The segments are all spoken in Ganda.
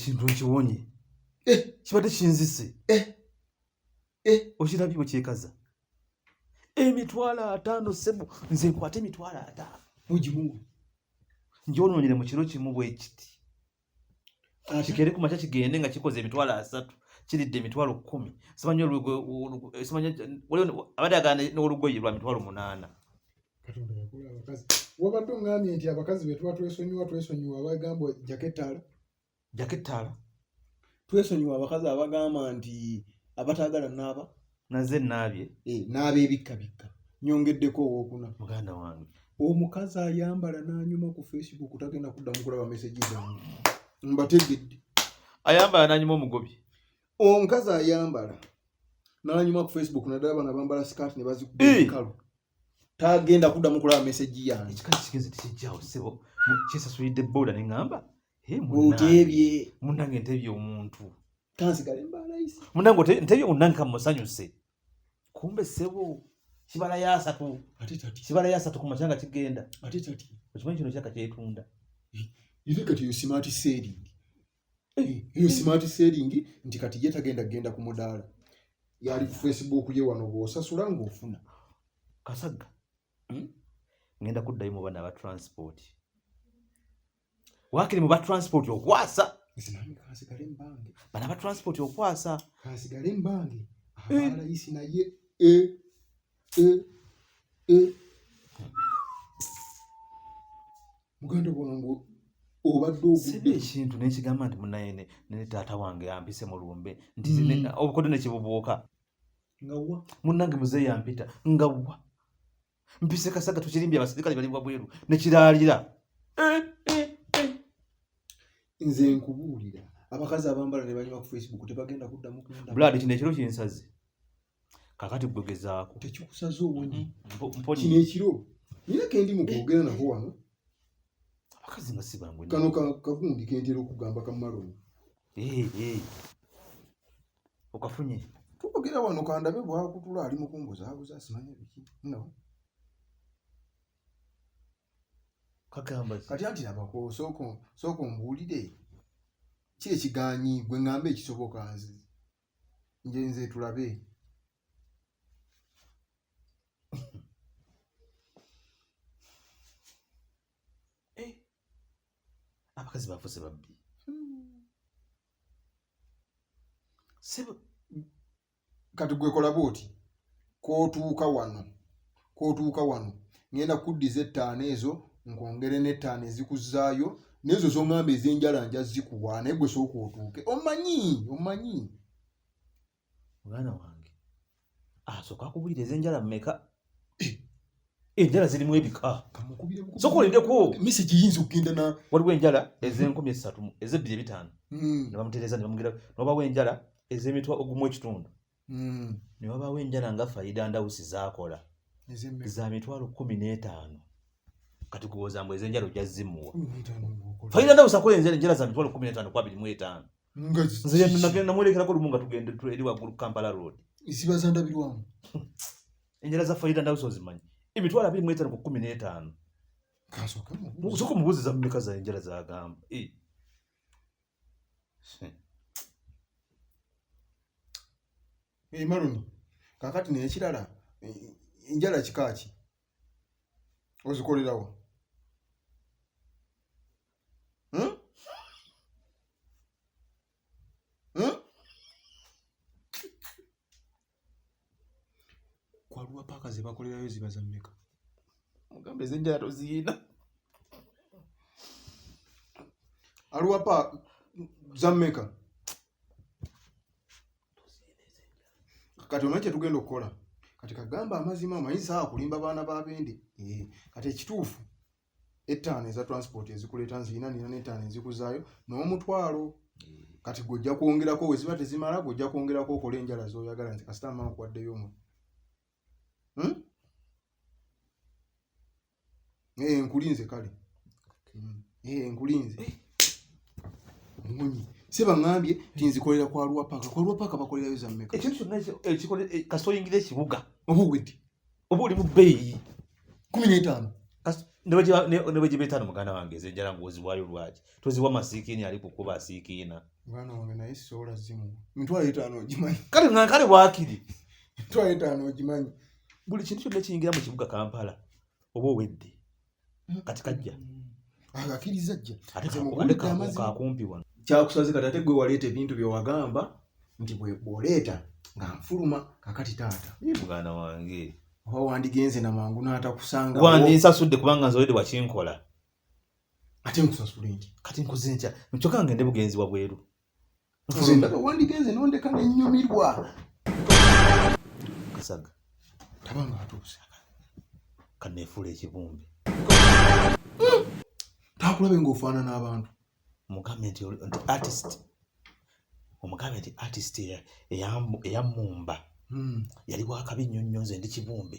ekintu nkiwonye eh. kibadde kinzise eh. Eh. okirabye bwe kyekaza emitwalo ataano sebo nze nkwate emitwalo ataano mugimu njonoonyere mu kiro kimu bwe kiti kikere ku makya kigende nga kikoze emitwalo asatu kiridde emitwalo kumi simanyi abadde agana n'olugoye lwa mitwalo munaana wabadde ongambye nti abakazi betuba twesonyiwa twesonyiwa abagamba jaketala jaketala twesonyiwa abakazi abagamba nti abataagala naaba naze naabye eh, naaba ebikka bikka nyongeddeko owokuna muganda wange omukazi ayambala nanyuma ku facebook tagenda kuddamu kulaba meseji zange mbategedde ayambala nanyuma omugobi omukazi ayambala nanyuma ku facebook nadala bana bambala skat ne bazikukalu eh! tagenda kuddamu kulaba meseji yange ekikazi kigenze tekijjawo sebo kyesasulidde boda neŋamba oteebye munange nteebye omuntu kansigale mbalayisi munange ote- ntebi munange kamusanyuse kumbe sebo kibala yasatu ate tati kibala yasatu ku makyanga kigenda ate tati okimanyi kino kyaka kyetunda iri kati eyo smart selling Eh, eyo smart selling nti kati ye tagenda kugenda ku mudaala yali ku facebook ye wano bwosasula ng'ofuna kasagga Hmm? ngenda kuddayo mu bana aba transport wakiri mu ba transport okwasa bana ba transport okwasa kasigale mbange eh. abalayisi naye e e e muganda wange obadde ogudde ekintu nekigamba nti munaye ne taata wange yampise mu lumbe nti mm. obukodde nekibubuuka ngawa munange muzeeyi yampita ngawa mpise kasaga tukirimbye abasirikale bali wabweru nekiraalira eh, eh, eh. nze nkubuulira abakazi abambala ne banyuma ku facebook tebagenda kuddamu blood kino ekiro kinsaze kakati gwe gezaako tekikusaze obunyi mm-hmm. kino ekiro nina kendi mukwogera nako wano abakazi nga sibangu kano kagundi kentera okugamba kamaloni okafunye tukogera wano kandabe bwakutula ali mukumbuzaabuza asimanya biki no kagamba kati anti nabako soko soko mbulire ki ekiganyi gwe ngambe ekisoboka nze nje nze tulabe eh abakazi bafuse babbi hmm. kati gwekola bwoti kwotuuka wano kwotuuka wano ngenda kuddiza ettaano ezo nkwongere n'ettaano ezikuzaayo nezo zongamba ezenjala nja zikuwa naye gwe sooka otuuke omanyi omanyi mwana wange asooka ah, akubulira ezenjala mumeka enjala zirimu ebika sokolideko misi giyinza okugenda na waliwo enjala ezenkumi esatu ezebbiri ebitaano hmm. nebamutereza nebamugera nobawo enjala ezemitwa ogumu ekitundu hmm. newabawo enjala nga faida ndawusi zakola za mitwalo kumi n'etaano kati kuwoza mbu ezenjala ojja zimuwa faida ndawusi akola enjala za mitwalo kumi n'etaano kwabiri mu etaano nze namwerekerako lumu nga tugende eri waggulu kampala road eziba zandabirwamu enjala za fayida ndawe zozimanyi emitwalo abiri mwetano ku kumi n'etaano soka omubuzi zamumeka za enjala zagamba eh. emaloni eh, kakati nekirala eh, enjala kikaaki ozikolerawo hmm? Hmm? kwaluwa paaka zebakolerayo ziba za mmeka mugambe ezenjala toziina aluwa paaka za mmeka kati omanyi kyetugenda okukola kati kagamba amazima omanyi saa kulimba baana babende eh, kati ekituufu ettaano eza transport ezikuleeta nzirina nina n'ettaano ezikuzaayo n'omutwalo kati gwojja kwongerako weziba tezimala gwojja kwongerako okola enjala zoyagala nti kasita mmaa nkuwaddeyo omu hmm? eh, nkulinze kale hmm. eh, nkulinze munyi sebaŋambye tinzikolera kwa lwapaka kwa lwapaka bakolerayo zammeka ekintu kyonna ekikola eh, kasita oyingira ekibuga oba owedde oba oli mu bbeeyi kumi n'etaano ne bwe giba etaano muganda wange eze enjala ng'oziwayo lwaki toziwa masiikiina ali kukuba asiikiina mwana wange naye soola zimu mitwalo etaano ogimanyi kale nga kale waakiri mitwalo etaano ogimanyi buli kintu kyonna kiyingira mu kibuga kampala oba owedde kati kajja akakiriza ajja akumpi wano kyakusaze kati ate gwe waleeta ebintu byewagamba nti bwoleeta nga nfuluma kakati taata muganda wange oba wandigenze na mangu n'atakusanga wandinsasudde kubanga nze olede wakinkola ate nkusasule nti kati nkuze ntya nkyokka ngende bugenzi wabweru ndaba wandigenze nondeka nenyumirwa kasaga taba nga atuuse kanefuula ekibumbe hmm. takulabe ngaofaanana abantu mugambe nti artist omugambe nti artist eyamumba hmm. yali wakabi nnyo nnyo nze ndi kibumbe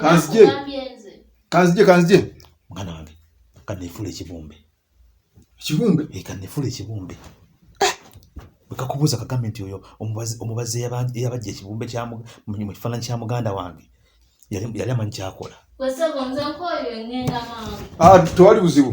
kanzije kanzije kanzije mwana wange kanefula ekibumbe ekibumbe eh, kanefula ekibumbe eh! bwekakubuuza kagambe nti oyo omubazi eyabajja ekibumbe mu kifaananyi kya muganda wange yali amanyi kyakola ah, tewali buzibu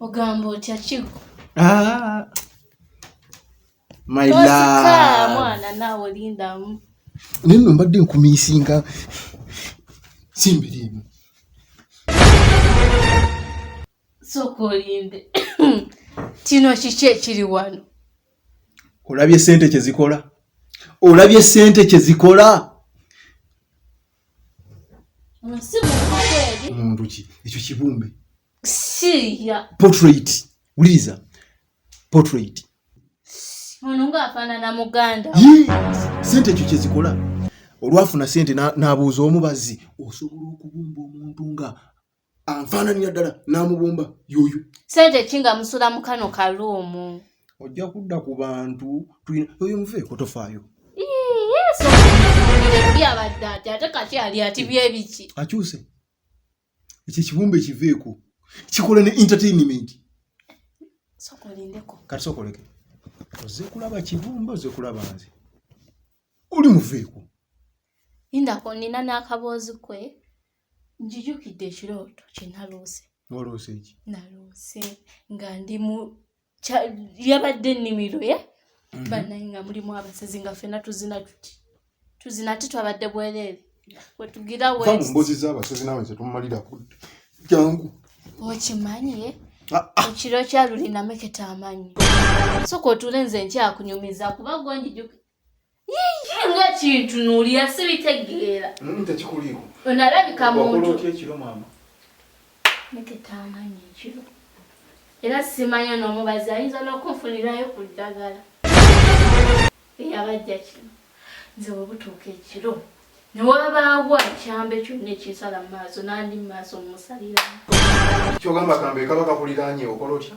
ogamba otya kigo Ah. My tosika love. mwana naawe olindamu naye nno mbadde nkumiisinga simbiriimu sooka olinde kino kiki ekiri wano olabye sente kyezikola olabye sente kyezikola muntu ki ekyo kibumbe portrait wuliriza portrait ono ngaafaanana muganda sente ekyo kyezikola olwafuna sente n'abuuza omubazi osobola okubumba omuntu nga anfaananira ddala n'amubumba yoyo sente ki nga musula mu kano kaluumu ojja kudda ku bantu tulina oyo muve kotofaayo yabadde ati ate kati ali ati byebiki akyuse ekyo ekibumba ekiveeko kikola ne entertainment sokolindeko kati sokoleke oze kulaba kibumba oze kulaba nze oli muveeko indako nina n'akaboozi kwe njijukidde ekirooto kye naloose waloose ki naloose nga ndi mu yabadde ennimiro ye mhm. banaye nga mulimu abasezi nga fena tuzina tuti tuzina ate twabadde bwereere wetugira wembozi z'abasezi nawe nze tomumalira kudde jangu okimanyi ye ah, ah. ekiro kyalulinamu ekitamanyi soka otuule nze nkyakunyumiza kuba gwenjijukidde yiyi nga kintu nuulira sibitegeera mm, tekikuliiko onalabika muntu otya ekiro maama neketaamanya ekiro era simanyi onoomubazi ayinza n'okunfunirayo ku ddagala eyabajja kino nze webutuuka ekiro newabaawo akyambe kyonna ekinsala mu maaso nandi mu maaso mumusaliramu kyogamba kambe kaba kakuliraanye okola otya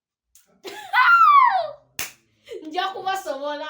nja kubasobola